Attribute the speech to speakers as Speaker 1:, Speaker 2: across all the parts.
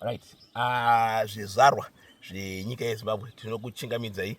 Speaker 1: right ah, zvizvarwa zvenyika yezimbabwe tinokuchingamidzai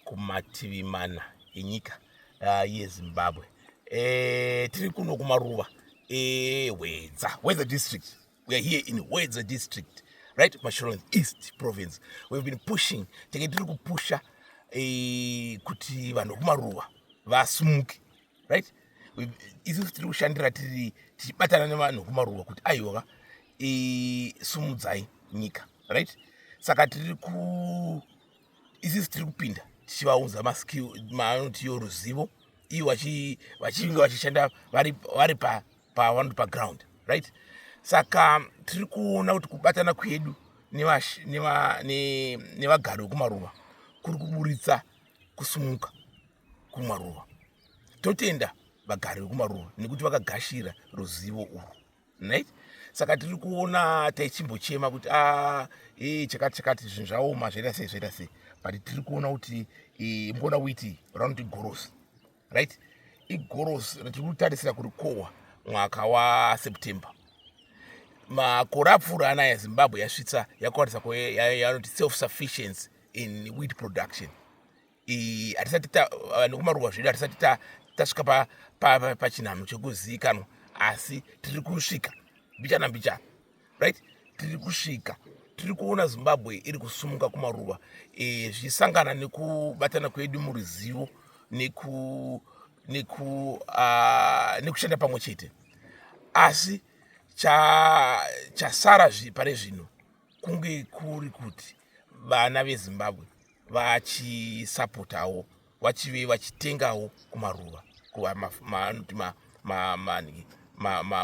Speaker 1: kumativi mana enyika ah, yezimbabwe eh, tiri kuno kumaruva ehwedza eh, hwedza district we are here in hwedza district right masholand east province we've been pushing tenge tiri kupusha eh, kuti vanhu vekumaruva vasumuke right isusu tiri kushandira tiri tichibatana nevanhu kumaruwa kuti aiwa sumudzai nyika right saka tiri ku isisi tiri kupinda tichivaunza maanotiyo ruzivo iyo vachinge vachishanda vari pavanoti paground right saka tiri kuona kuti kubatana kwedu nevagari vekumaruva kuri kuburitsa kusumuka kumaruva totenda vagari vekumaruva nekuti vakagashira ruzivo urwu right saka tiri kuona taichimbochema kuti ah, e, chakati chakati zvinhu zvaoma zvaita sei zvaita sei but tiri kuona kuti e, mboda kuiti ranoti gorosi right igorosi ratiri kutarisira kurikohwa mwaka waseptember makore apfuura anaya zimbabwe yasvitsa yakwanisa yanoti self sufficiency in wheat production hatisati vanhu kumaruwa zvedu hatisati tasvika pachinhanho chekuzivikanwa asi tiri kusvika mbichana mbichana right tiri kusvika tiri kuona zimbabwe iri kusumuka kumaruva e, zvichisangana nekubatana kwedu muruzivo neku neku uh, nekushanda pamwe chete asi chasara cha zvi, pane zvino kunge kuri kuti vana vezimbabwe vachisapotawo vachive vachitengawo kumaruva kuvaanoti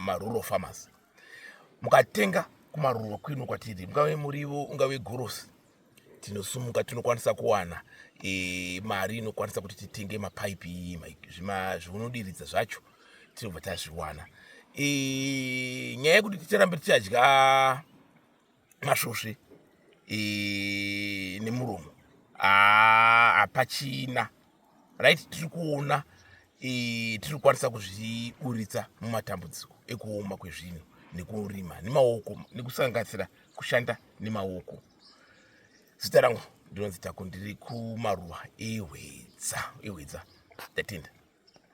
Speaker 1: marural farmers mukatenga kumaruva kwino kwatiri mungave murivo ungave gorosi tinosumuka tinokwanisa kuwana e, mari inokwanisa kuti titenge mapaipi iyi zvinodiridza zvacho tinobva tazviwana e, nyaya yekuti ticharambe tichadya masvosve eh, nemuromo ah, hapachina right tiri kuona eh, tiri kukwanisa kuzviburitsa mumatambudziko ekuoma kwezvinhu nekurima nemaoko nekusanganisira kushanda nemaoko zita rangu ndinonzi tako ndiri kumaruwa ehwedza ehwedza tatenda